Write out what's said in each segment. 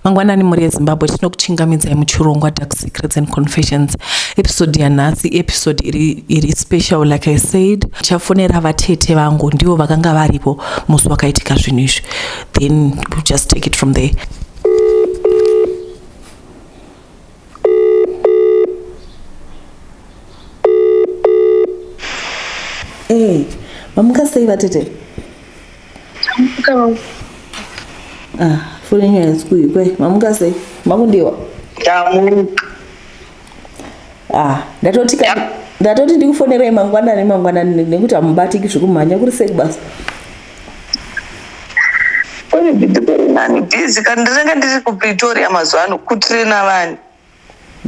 mangwanani mhuri yezimbabwe tinokuchingamidzai muchirongwa dark secrets and confessions episode yanhasi episode iri, iri special like i said chafonera vatete vangu ndivo vakanga varipo musi wakaitika zvinhu izvi then we'll just take it from there Hey, eh, mamuka sei vatete? Mamuka mamu. Ah, foni yenyu haisi kuikwe. Mamuka sei? Makundiwa? Ndamuka. Ah, ndatoti ka ndatoti ndikufonerai mangwanani mangwanani nekuti hamubatiki zvekumhanya kuri sei basa? Kune Pretoria nani busy kana ndinenge ndiri kuPretoria mazuva ano kutrina vanhu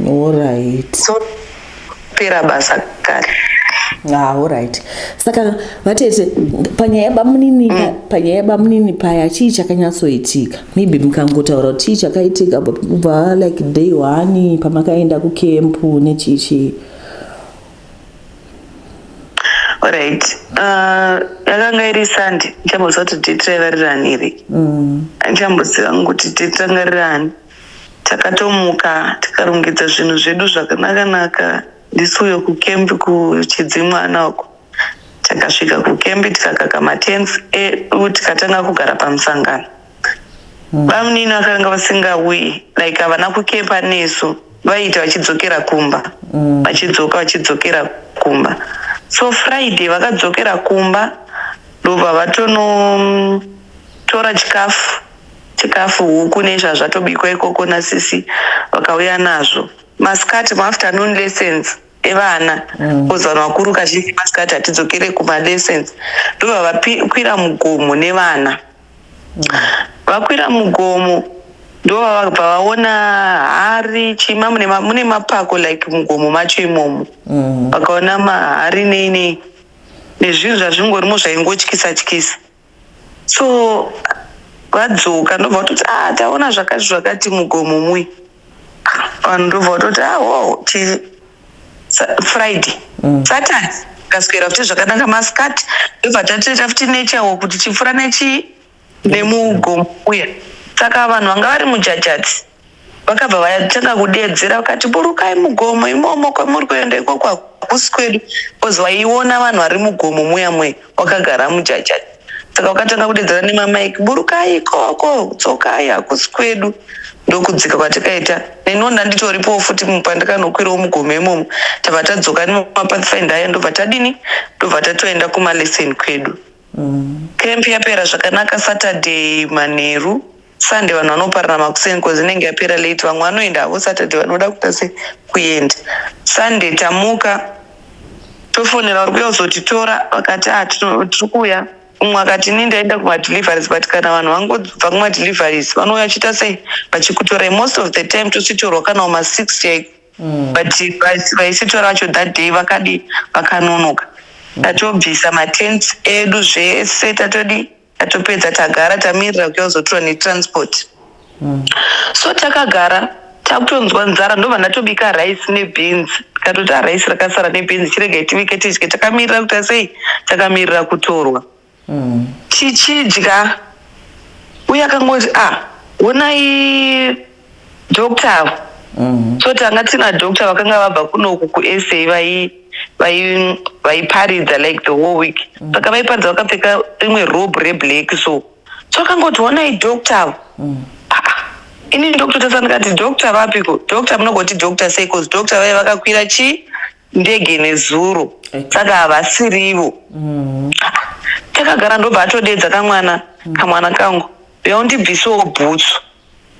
Alright. so pera basa kare. Ah, alright. Saka vatete panyaya yebamunini mm. panyaya yebamunini paya chii chakanyatsoitika? Maybe mukangotaura kuti chii chakaitika but kubva like day one pamakaenda kukempu nechii chii. Alright. Uh, yakanga iri sandi ndichamboziva kuti date raiva riri ani iri andichamboziva mm. kuti date ranga riri ani takatomuka tikarongedza zvinhu zvedu zvakanakanaka ndisu uyo kukembi kuchidzimwana uko takasvika kukembi tikakaka matenf edu tikatanga kugara pamusangano bamunini vakanga vasingauyi like havana kukepa nesu vaiita vachidzokera kumba mm. vachidzoka vachidzokera kumba so friday vakadzokera kumba ndobva vatonotora chikafu chikafu huku nezvazvatobikwa ikoko nasisi vakauya nazvo maskati maafternoon lessons evana mm. bcause vanhu vakuru kazhinji masikati hatidzokere kumalessons ndobva vakwira mugomo nevana mm. vakwira mugomo ndovavabva vaona hari chima mune mapako like mugomo macho imomo mm. vakaona mahari nei nei nezvinhu zvazvingorimo zvaingotyisa tyisa so vadzoka ndobva vatoti a ah, taona zvakati zvakati mugomo muye vanhu ndobva vatoti a ah, wo friday mm. saturday kaswera futi zvakanaka maskati ndobva tatoita futi nechawo kuti chipfura nechi nemugomo uya saka vanhu vanga vari mujajati vakabva vatanga kudeedzera vakati burukai mugomo imomo kwamuri kuenda ikoko hakusi kwedu bcause waiona vanhu vari mugomo muya mwe wakagara mujajaji saka wakatanga kudeedzera nemamaiki burukai ikoko dzokai hakusi kwedu ndokudzika kwatakaita neniwo ndanditoripowo futi pandakanokwirawo mugomo imomo tabva tadzoka nemapathfind aya ndobva tadini ndobva tatoenda kumalesson kwedu Camp yapera zvakanaka Saturday manheru. Sunday vanhu vanoparana makuseni because inenge yapera late. Vamwe vanoenda havo Saturday vanoda kuita se kuenda. Sunday tamuka tofonera vari kuya kuzotitora vakati ah tino- tiri kuuya. Umwe akati ini ndaenda kumadeliveries but kana vanhu vangobva kumadeliveries vanouya vachiita sei vachikutorai. Most of the time tositorwa kana kuma six chaiko. mm. but vaisitora vacho that day vakadi vakanonoka tatobvisa matent edu zvese tatodi tatopedza tagara tamirira kuti vazotora netransport mm. so takagara takutonzwa nzara ndobva ndatobika rice nebeans katoti arice rakasara nebeans chirega itibike tidye takamirira kuta sei takamirira kutorwa mm. tichidya uye akangoti a ah, wonai doctor avo mm. so tanga tina doctor vakanga vabva kunoku kusa vaiparidza like the whole week mm. saka vaiparidza vakapfeka rimwe robe reblack so so akangoti wonai doctor avo mm. ini ndokutotesa ndikati doctor vapiko doctor munogoti doctor sei bcause doctor vaye vakakwira chii ndege nezuro saka havasirivo mm-hmm. takagara ndobva atodeedza kamwana mm. kamwana kangu yaundibvisewo bhutsu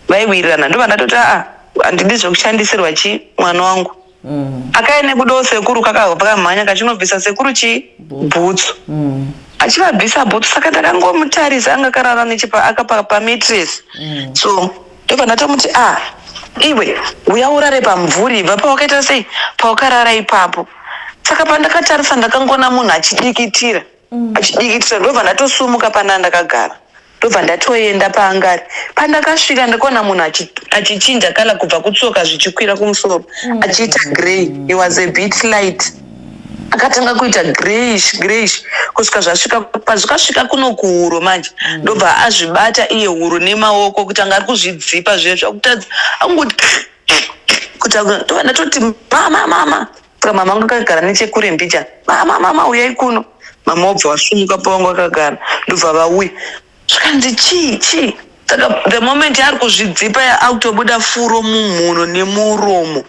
vaiwirirana ndobva ndatoti aa ah, handidi zvekushandisirwa chii mwana wangu mm. akaene kudawo sekuru kakabva kamhanya kachinobvisa sekuru chii bhutsu mm. achivabvisa bhutsu saka ndakangomutarisa anga karara nechipa akapaka pamitress mm. so ndobva ndatomuti a ah, iwe uya urare pamvuri ibva pawakaita sei pawakarara ipapo saka pandakatarisa ndakangona munhu achidikitira mm. achidikitira ndobva ndatosumuka pana ndakagara ndobva ndatoenda paangari pandakasvika ndakaona munhu achichinja kana kubva kutsoka zvichikwira kumusoro mm. achiita grey he was a bit light akatanga kuita greyish greyish kusvika zvasvika pazvikasvika kuno kuhuro manje mm. ndobva azvibata iye huro nemaoko kuti anga ari kuzvidzipa zviye zvakutadza akungoti kuti ndatoti mama mama saka mama angu akagara nechekure mbichana mama mama uyai kuno mama obva vasumuka pavangu akagara ndobva vauya zvikanzi chii chii saka the moment yaari kuzvidzipa akutobuda furo mumhuno nemuromo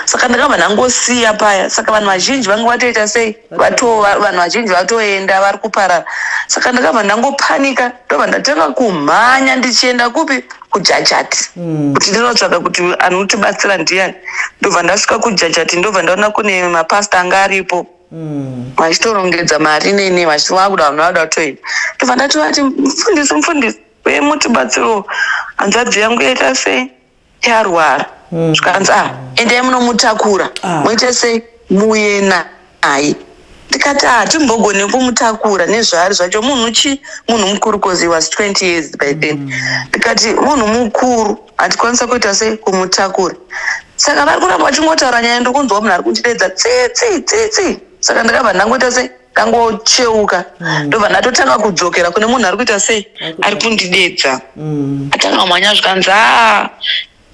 saka ndakabva ndangosiya paya saka vanhu vazhinji vanga vatoita sei vanhu vazhinji vatoenda vari kuparara saka ndakabva ndangopanika ndobva ndatanga kumhanya ndichienda kupi kujajati hmm. kuti ndinotsvaka kuti anotibatsira ndiyani ndobva ndasvika kujajati ndobva ndaona kune mapasta anga aripo hmm. vachitorongedza mari nene vachivakuda vanhu vada kutoenda ndobva ndatovati mufundisi mufundisi wemutibatsiro hanzvadzi yangu yaita sei yarwara zvikanzi ah endai munomutakura Ah. moita sei muuye naye ndikati ah timbogone kumutakura nezvaari zvacho munhu chi munhu mukuru cause he was 20 years by then ndikati munhu mukuru hatikwanisa kuita sei kumutakura saka vari kuramba vachingotaura nyaya ndokunzwa munhu ari kundideedza tsitsi tsitsi saka ndakabva ndangoita sei kangocheuka mm. ndobva ndatotanga kudzokera kune munhu ari kuita sei ari kundidedza mm. atanga kumhanya zvikanzi a ah,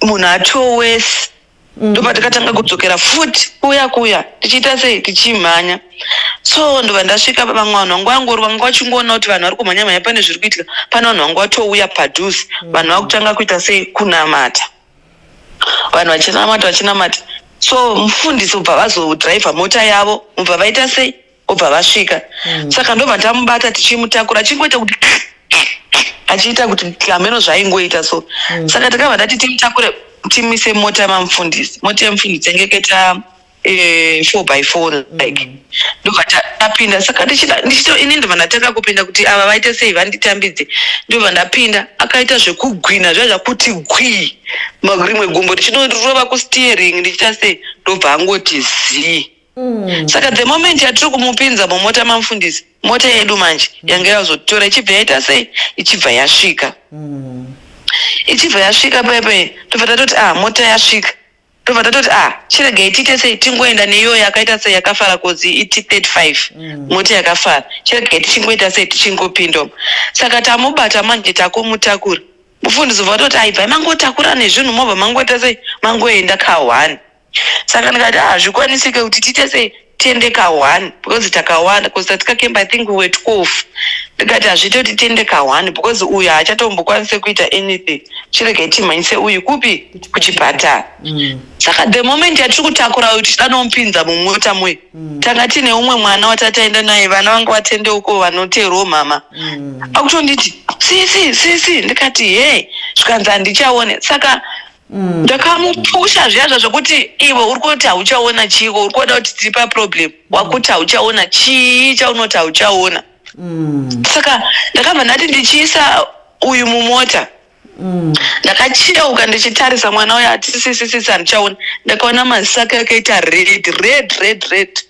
munhu atowesi mm. ndobva tikatanga kudzokera futi kuya kuya tichiita sei tichimhanya so ndobva ndasvika vamwe vanhu vangu vangori vanga vachingoona kuti vanhu vari kumhanya mhanya pane zviri kuitika pane vanhu vanga vatouya padhuze vanhu vakutanga kuita sei kunamata vanhu vachinamata vachinamata so mufundisi ubva vazodriver mota yavo ubva vaita sei ubva vasvika mm. saka ndobva tamubata tichimutakura chingoita kuti achiita kuti hameno zvaingoita so mm. saka takabva tati timutakure timise mota yamamufundisi mota yamufundisi yange kaita eh, four by four like mm. ndobva tapinda saka ndichito ini ndobva ndatanga kupinda kuti ava vaite sei vanditambidze ndobva ndapinda akaita zvekugwina zva zvakuti gwii rimwe gumbo richidorova kusteering ndichita sei ndobva angoti zii mm. saka the moment yatiri kumupinza mumota mamufundisi mota yedu manje mm. yanga yazotora ichibva yaita sei ichibva yasvika mm. ichibva yasvika paipai tobva tatoti ah mota yasvika tobva tatoti ah chiregai tiite sei tingoenda neiyoyo yakaita sei yakafara kodzi iti 35 mm. moti yakafara chiregai tichingoita sei tichingopinda saka tamubata manje takumutakura mufundisi bva toti aibvai mangotakura nezvinhu mobva mangoita sei mangoenda kahwani saka ndikati ah, hazvikwanisike kuti tiite sei tiende ka one because takawanda because tatika camp i think we were twelve ndikati hazviite kuti tiende ka one because uyu haachatombokwanise kuita anything chirega timhanyise uyu kupi kuchipatara mm. saka the moment yatiri kutakura uyu tichida nomupinza mumota mwe mm. tanga tiine umwe mwana watataenda naye vana vanga vatende uko vanoteerwo mhama mm. akutonditi sisi sisi ndikati he zvikanzi handichaone saka Mm. ndakamupusha zviya zvazvokuti iwe uri kuti hauchaona chiiko uri kuona kuti tiri paproblem mm. wakuti hauchaona chii chaunoti hauchaona mm. saka ndakabva ndati ndichiisa uyu mumota ndakacheuka ndichitarisa mwana uyo atisisisisi handichaona ndakaona maziso ake akaita red red red red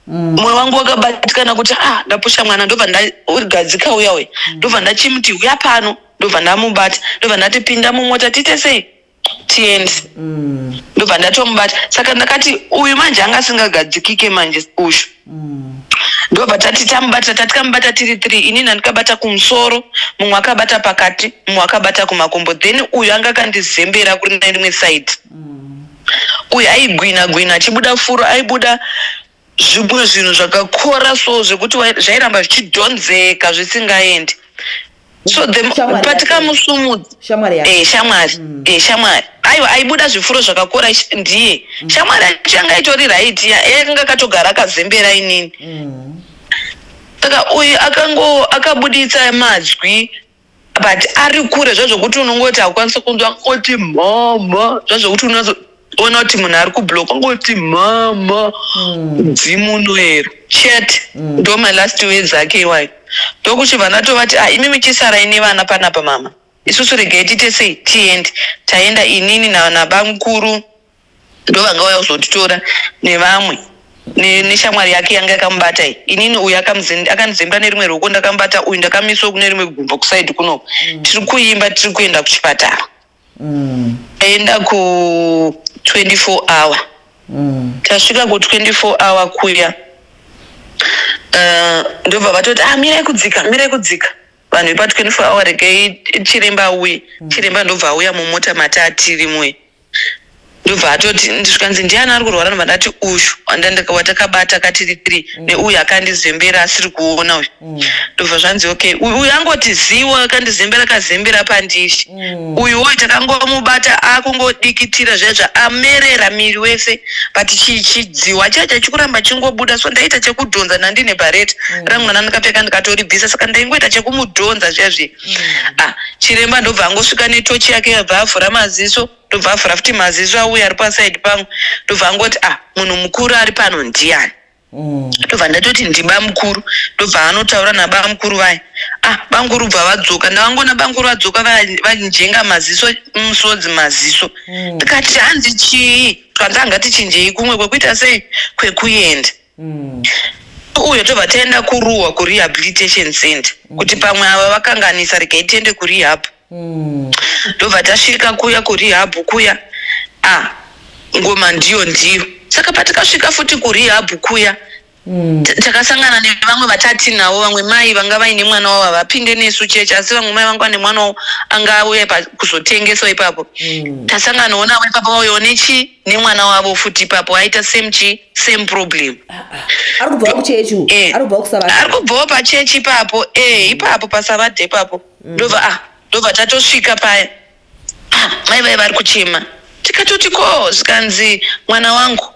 mwoyo mm. wangu wakabatikana kuti ah ndapusha mwana ndobva ndagadzika uya uya ndobva ndachimuti uya pano ndobva ndamubata ndobva ndati pinda mumota tiite sei tiende mm. ndobva ndatomubata saka ndakati uyu manje anga asingagadzikike manje ushu mm. ndobva tati tamubata tati kamubata tiri three ini ndandikabata kumusoro mumwe akabata pakati mumwe akabata kumakumbo then uyu anga akandizembera kuri naimwe side mm. uyu aigwina gwina achibuda furo aibuda Zvimwe zvinhu zvakakora so zvekuti wai- zvairamba zvichidhonzeka zvisingaendi so the Shamwari but yake. kamusumudzi shamwari yake Eh, shamwari Eh, shamwari aiwa aibuda zvifuro zvakakora sh- ndiye shamwari yacho yanga itori right ya- yakanga akatogara akazembera inini saka uyu akango akabuditsa mazwi but ari kure zvazvokuti unongoti haukwanisi kunzwa oti mhamha zvazvokuti unozoona kuti munhu ari kublock ongoti mhamha hmm. dzimu unoera chet hmm. ndo my last words ake iwayo ndokuti vana tovati a ah, imi michisarai nevana panapa mama isusu regai tiite sei tiende taenda inini nabamukuru ndovanga uya kuzotitora nevamwe neshamwari yake yanga yakamubata iyi inini uyu akanizemba nerimwe ruoko ndakamubata uyu ndakamiswa kune rimwe gumbo kusaidi kuno mm. tiri kuimba tiri kuenda kuchipatara mm. aenda ku 24 hour mm. tasvika ku 24 hour kuya eh, ndobva vatoti ah mirai kudzika mirai kudzika vanhu vepa 24 hour regai chiremba auye chiremba ndobva auya mumota mati atirimwe ndobva atoti zvikanzi ndiani ari kurwara ndobva ndati uyu watakabata katiri tiri mm. neuyu akandizembera asiri kuona uyu mm. ndobva zvanzi okay uyu angoti ziwa akandizembera akazembera pandiri mm. uyu wo takangomubata akungodikitira zvaizva amerera miri wese but chidziwa chaiye chachikuramba chingobuda so ndaita chekudhonza nandine bareta rangu nana ndikapfeka ndikatoribvisa saka ndaingoita chekumudhonza zviya zviya mm. ah, chiremba ndobva angosvika netochi yake yabva avhura maziso ndobva avhura futi maziso auya ari pasaidi pangu ndobva angoti ah munhu mukuru ari pano ndiyani mm. ndobva mm. ndatoti ndiba mukuru ndobva anotaura naba mukuru vaya ah banguru bva vadzoka ndavangona banguru vadzoka vanjenga maziso musodzi maziso mm. ndikati mm. hanzi chii twandanga tichinjei kumwe kwekuita sei kwekuenda mm. mm. uyo tobva taenda kuruwa kurehabilitation center mm. kuti pamwe ava vakanganisa regai tiende kurehab mm. ndobva tasvika kuya kurehab kuya ah, ngoma ndiyo ndiyo saka patikasvika futi kurehab kuya Mm. takasangana nevamwe vatati navo vamwe mai vanga vaine mwana wavo havapinde nesu chechi asi vamwe mai vanga vane mwana wavo anga auya kuzotengeswa ipapo mm. tasangana ona ipapo vauyawo nechi nemwana wavo futi ipapo aita same chii same problem ari kubva kuchechi eh. ari kubva kusavadha ari kubvawo pachechi ipapo eh ipapo pasavadha ipapo mm. ndobva ah ndobva tatosvika paya ah mai vai vari kuchema tikatoti ko zvikanzi mwana wangu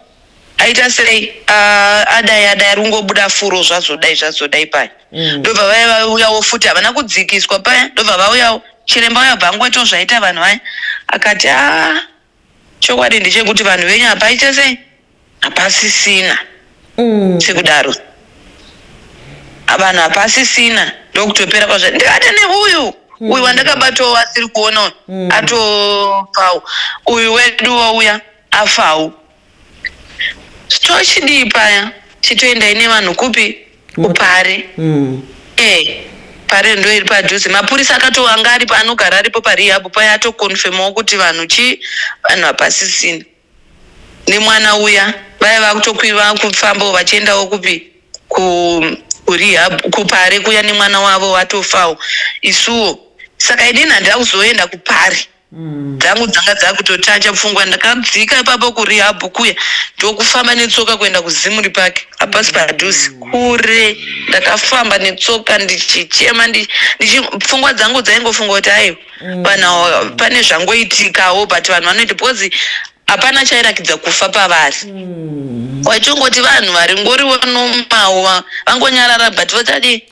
aita sei ah, adai adai ari kungobuda furo zvazodai zvazodai paya mm. ndobva vaya vauyawo futi havana kudzikiswa paya ndobva vauyawo chiremba uya bvangu waito zvaita vanhu vaya akati a ah, chokwadi ndechekuti vanhu venyu hapaite sei hapasisina mm. sekudaro vanhu hapasisina ndokutopera kwazva ndikati neuyu mm. uyu wandakabatawo asiri kuona mm. atofawo uyu weduwo uya afawo Store chidii paya chitoendai nevanhu kupi kupari mm. hey. Eh, pare ndo iri padhuze mapurisa akatowanga aripo anogara aripo parehab paya atokonfemawo kuti vanhu chii vanhu hapasisina nemwana uya vaya vakutokwira kufambawo vachiendawo kupi ku kurehab kupare kuya nemwana wavo watofawo isuwo saka inini handira kuzoenda kupari Dzangu dzanga dzakutotacha pfungwa ndakadzika ipapo kurehab kuya ndokufamba netsoka kuenda kuZimri Park hapasi padhuze kure ndakafamba netsoka ndichichema ndi, ndichi, pfungwa dzangu dzaingofunga kuti aiwa vanhu awa pane zvangoitikawo but vanhu vanoita because hapana chairakidza kufa pavari mm. wachongoti vanhu vari ngori vanomawa vangonyarara but vachadi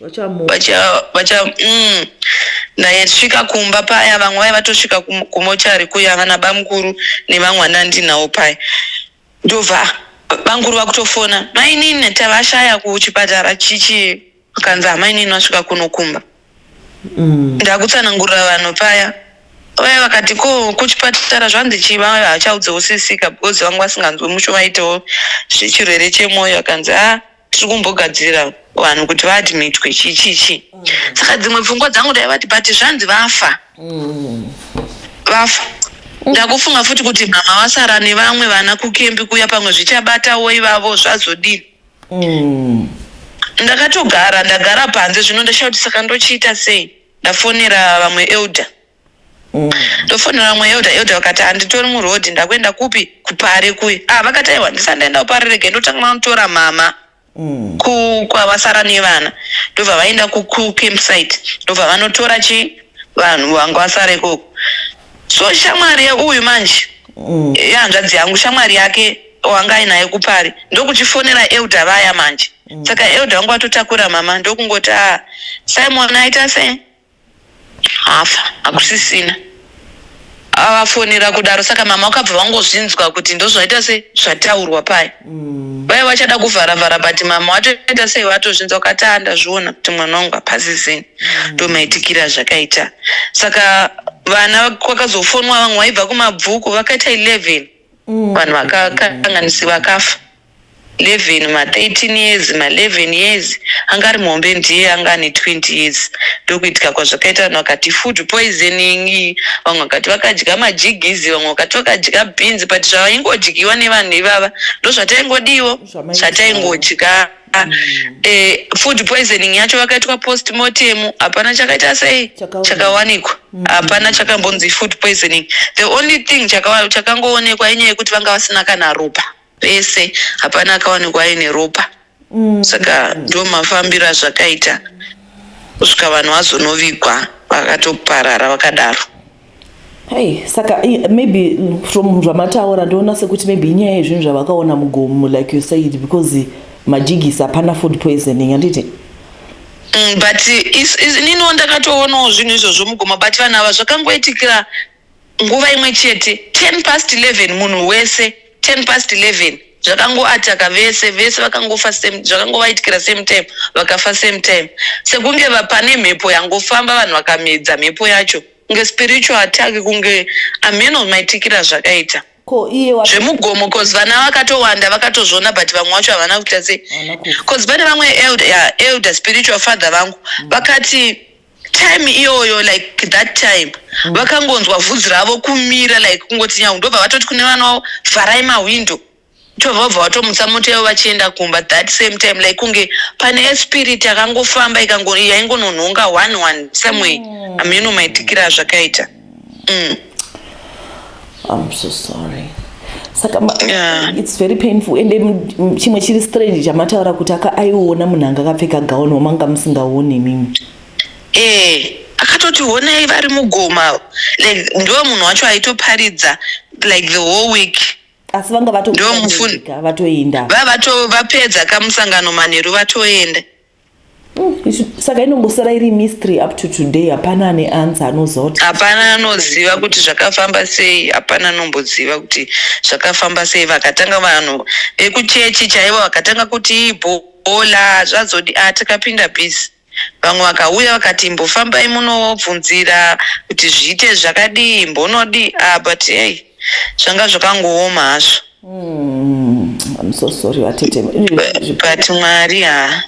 mm. naye svika kumba paya vamwe vai vatosvika kumochari kuya vana bamukuru nevamwe anandinawo paya ndobva bamukuru vakutofona mainini tavashaya kuchipatara chichi Akanzi amainini vasvika kuno kumba. Mm. Ndakutsanangurira vanhu paya. Vaya vakati ko kuchipatara zvanzi chii vaya hachaudzewo sisika because vanga vasinganzwe musho vaitewo zvechirwere chemwoyo akanzi ah tiri kumbogadzirira vanhu kuti vaadmitwe chii chii chii. Saka dzimwe pfungwa dzangu ndaivati but zvanzi vafa. Vafa. Ndakufunga futi kuti mama vasara nevamwe vana kukembi kuya pamwe zvichabatawo ivavo zvazodini. Umm. Ndakatogara ndagara panze zvino ndashaya kuti saka ndochiita sei ndafonera vamwe elder mm. ndofonera vamwe elder elder vakati handitori muroad ndakuenda kupi kupare kuye ah vakati aiwa ndisati ndaenda kupare rege ndotanga vanotora mama mm. kwavasara nevana ndobva vaenda kucampsite ndobva vanotora chi vanhu vanga vasara ikoko so shamwari yeuyu manje mm. yehanzvadzi yangu shamwari yake wanga ainaye kupari ndokuchifonera elda vaya manje mm. saka mm. elda vangu vatotakura mama ndokungoti a ah, simon aita se hafa hakusisina avafonera kudaro saka mama wakabva vangozvinzwa kuti ndozvaita se zvataurwa paya Vaya vachada kuvhara vhara but mama watoita sei watozvinza ukati "Ah, ndazviona kuti mwana wangu hapazi zeni ndomaitikira zvakaita saka vana kwakazofonwa vamwe vaibva kumabvuku vakaita 11 vanhu vakakanganisi vakafa 11 ma 13 years ma 11 years anga ari muhombe ndiye anga ane 20 years ndokuitika kwazvakaita vanhu vakati food poisoning vamwe vakati vakadya majigizi vamwe vakati vakadya beans but zvavaingodyiwa nevanhu ivava ndozvataingodiwo zvataingodya mm. eh, food poisoning yacho vakaitwa post mortem hapana chakaita sei chakawanikwa mm. hapana chakambonzi food poisoning the only thing chakangoonekwa inyaya yekuti vanga vasina kana ropa vese hapana akawanikwa aine ropa mm. saka ndo mafambiro azvakaita kusvika vanhu vazonovigwa vakatoparara vakadaro Hey, saka maybe mm, from zvamataura ndoona sekuti maybe inyaya yezvinhu zvavakaona mugomo like you said because majigisi hapana food poisoning handiti mm, but ininiwo ndakatoonawo zvinhu izvozvo mugomo but vanhu ava zvakangoitikira Nguva imwe chete, ten past eleven, munhu wese, ten past eleven, zvakangoataka vese, vese vakangofa same, zvakangovaitikira same time, vakafa same time. Sekunge va- pane mhepo yangofamba vanhu vakamedza mhepo yacho. Kunge spiritual attack, kunge ameno maitikira azvakaita. Ko iye wapi? Zvemugomo, cause vana vakatowanda vakatozviona but vamwe wacho havana kuita sei. Havana kufa. Cause pane vamwe elder, yeah, elder spiritual father vangu vakati time iyoyo like that time mm. vakangonzwa vhudzi ravo kumira like kungoti nyangu ndobva vatoti kune vana wavo vharai mahwindo tobva vabva vatomutsa mota yavo vachienda kumba that same time like kunge pane espirit yakangofamba yaingononhonga one one someway mm. ameno maitikira azvakaita mm. I'm so sorry saka yeah. it's very painful ende chimwe chiri strange chamataura kuti aka aiona munhu anga akapfeka gauni wamanga musingaone mimi eh akatoti honai vari mugoma like ndiwo munhu wacho aitoparidza like the whole week asi vanga vatoenda vatoenda vapedza kamusangano manheru vatoenda Mm, saka inombosara iri mystery up to today hapana ane ansa anozoti hapana anoziva kuti zvakafamba sei hapana anomboziva kuti zvakafamba sei vakatanga vanhu vekuchechi chaivo vakatanga kuti ibhola zvazodi a ah, takapinda busy vamwe vakauya vakati imbofambai munobvunzira kuti zviite zvakadii mbonodii a ah, but hey zvanga zvakangooma hazvo Mm, I'm so sorry vatete. But Mwari ha.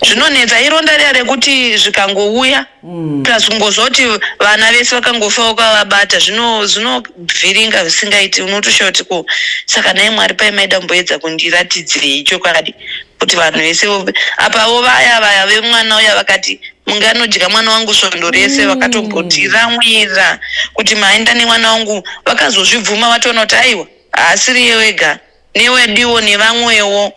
Zvinonetsa ironda riya rekuti zvikangouya mm. plus kungozoti vana vese vakangofa ukavabata zvino zvinovhiringa zvisingaiti unotoshaura kuti ko saka naye Mwari pai maida kumboedza kundiratidzirei chokwadi kuti vanhu vese apavo vaya vaya vemwana uya vakati munganodya mwana wangu svondo rese mm. vakatombotiramwira kuti maenda nemwana wangu vakazozvibvuma vatoona kuti aiwa haasiri ye wega newediwo nevamwewo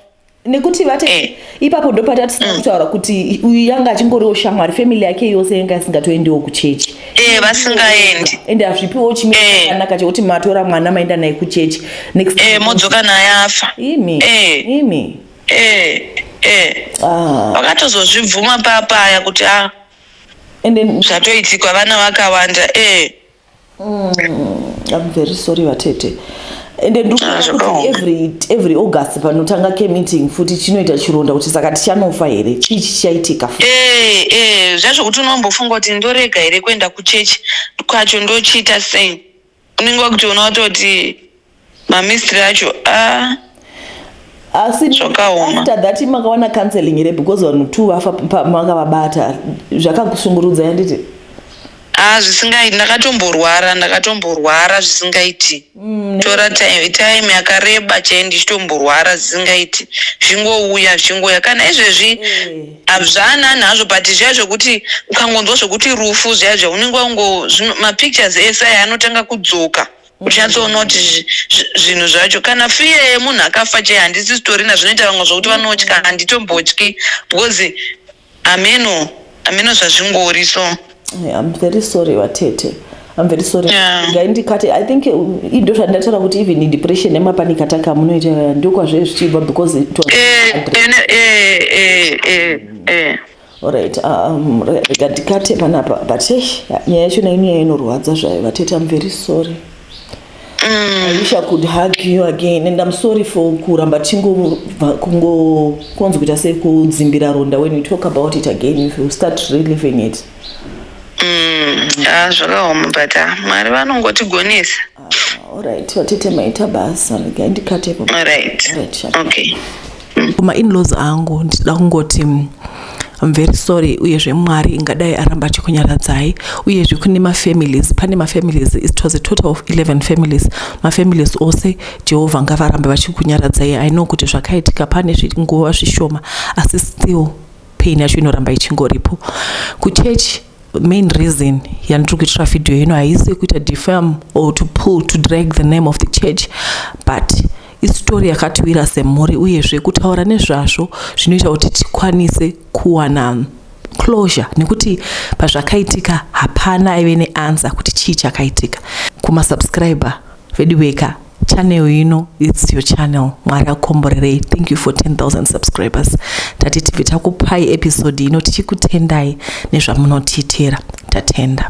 nekuti vati eh. ipapo ndopatatisa mm. kutaura kuti uyu yanga achingoriwo shamwari family yake yose yanga asingatoendiwo kuchechi eh, vasingaendi ende hazvipiwo chimekanaka eh. chekuti matora mwana maenda naye kuchechi next eh, modzoka naye afa imi imi eh eh ah. vakatozozvibvuma papaya kuti a ah, and then zvatoitikwa vana vakawanda eh mm, i'm very sorry vatete and then ah, kuti every every august panotanga ke meeting futi chinoita chironda kuti saka tichanofa here chii chichaitika futi eh eh zvazvo kuti unombofunga kuti ndorega here kuenda kuchechi kwacho ndochiita sei unenge wakutoona watoti mamistry acho ah, asi Zvakaoma. after that makawana counseling here because vanhu two vafa pa- makavabata zvakakushungurudza yanditi ah, zvisingaiti ndakatomborwara ndakatomborwara zvisingaiti tora time, time yakareba chai ndichitomborwara zvisingaiti zvingouya zvingouya kana izvezvi Hazvanani hazvo but zviya zvekuti ukangonzwa zvekuti rufu zviya zviya unenge wango mapictures ese aya anotanga kudzoka uchatsoona kuti zvinhu zvacho kana fiya yemunhu akafa chai handisi sitorina zvinoita vamwe zvokuti vanotya handitombotyi because ameno ameno zvazvingori so I'm very sorry vatete I'm very sorry yeah. ngaindikate i think uh, indo zvandataura kuti even depression nemapanik ataka munoita uh, ndokwazve zvichibva because it was eh, eh, eh, eh Alright, um, rega ndikate panapa but nyaya yacho naini yainorwadza zvayo vatete I'm very sorry Mm. I wish I could hug you again and I'm sorry for kuramba kungonzi kuita sekudzimbira ronda when you talk about it again if you start reliving it mm. ah, zvakaoma but ah, mwari vanongotigonesa ah, alright vatete maita basa ndikatepo alright okay kuma inlaws angu ndichida kungoti mm, I'm very sorry uyezve mwari ingadai aramba achikunyaradzai uyezve kune mafamilies pane mafamilies it was a total of 11 families mafamilies ose jehovha ngavarambe vachikunyaradzai i know kuti zvakaitika pane nguva zvishoma asi still pain yacho inoramba ichingoripo kuchechi main reason yandiri kuitira video ino haisi kuita defam or to pull to drag the name of the church but isitori yakatiwira semhuri uyezve kutaura nezvazvo zvinoita kuti tikwanise kuwana closure nekuti pazvakaitika hapana aive neansa kuti chii chakaitika kumasubscriber vedu veka channel ino its your channel mwari akomborerei thank you for 10000 subscribers tati tibve takupai episode ino tichikutendai nezvamunotiitira tatenda